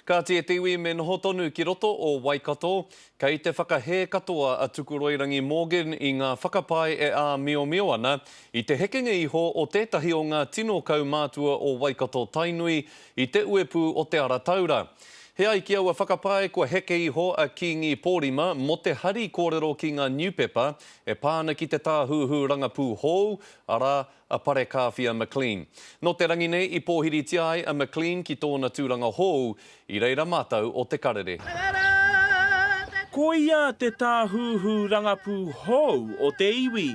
Kāti e te iwi me noho tonu ki roto o Waikato, kei te whakahē katoa a Tukuroirangi Morgan i ngā whakapae e āmiomio ana i te hekenga iho o tētahi o ngā tino kaumātua o Waikato Tainui i te uepū o Te Ara Taura. He ai ki aua whakapae kua heke iho a Kīngi Pōrima mō te hari kōrero ki ngā niupepa e pā ana ki te tāhuhu rangapū hou, arā, a Parekāwhia McLean. Nō te rangi nei i pōhiritia ai a McLean ki tōna tūranga hōu i reira mātou o Te Karere. Ko ia te tāhuhu rangapū hōu o te iwi,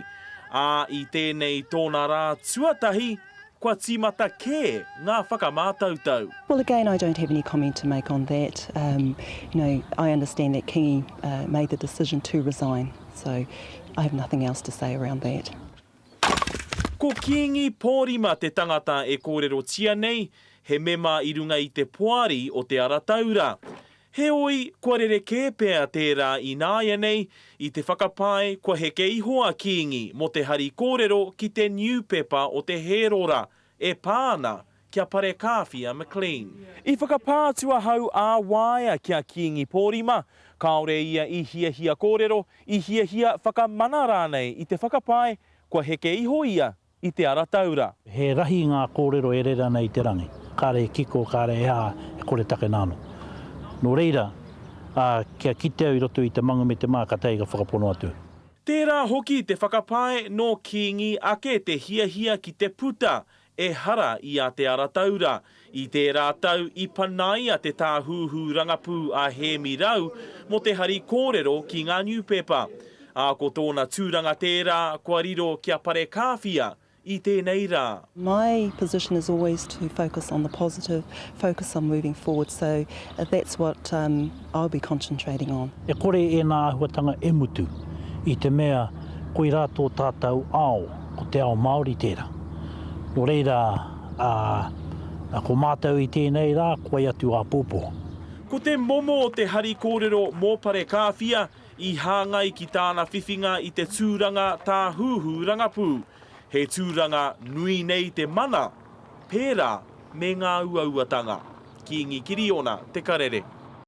ā, i tēnei tōna rā tuatahi, kua tīmata kē ngā whakamātautau. Well again I don't have any comment to make on that, um, you know, I understand that Kingi made the decision to resign, so I have nothing else to say around that. Ko Kīngi Pōrima te tangata e kōrerotia nei, he mema i runga i te Poari o Te Ara Taura. Heoi, kua rerekē pea tērā ināianei, i te whakapae kua heke iho a Kīngi mō te hari kōrero ki te niupepa o te Hērora, e pā ana Kia parekāwhi a McLean. I whakapā atu ahau ā waea ki a Kīngi Pōrima, kāore ia i hiahia kōrero, i hiahia whakamana rānei i te whakapae kua heke iho ia i Te Ara Taura. He rahi ngā kōrero e rere ana i te rangi, kāre e kiko, kāre e aha, e kore takena anō. Nō reira, ā, kia kite au i roto i te manga me te mā ka taea ka whakapono atu. Tērā hoki te whakapae nō Kīngi ake te hiahia ki te puta Ehara i a Te Ara Taura. I tērā tau i panaia te tāhuhu rangapū a Hēmi Rau mō te hari kōrero ki ngā niupepa. Ā, ko tōna tūranga tērā kua riro ki a Parekāwhia i tēnei rā. My position is always to focus on the positive, focus on moving forward, so that's what. I'll be concentrating on. E kore ēnā āhuatanga e mutu, i te mea koirā tō tātou ao, ko te ao Māori tērā. Nō reira, ā, ko mātou i tēnei rā, ko wai atu āpōpō? Ko te momo o te hari kōrero mō Parekāwhia i hāngai ki tāna whiwhinga i te tūranga tāhūhū rangapū. He tūranga nui nei te mana, pērā me ngā uauatanga. Kīngi Kiriona Te Karere.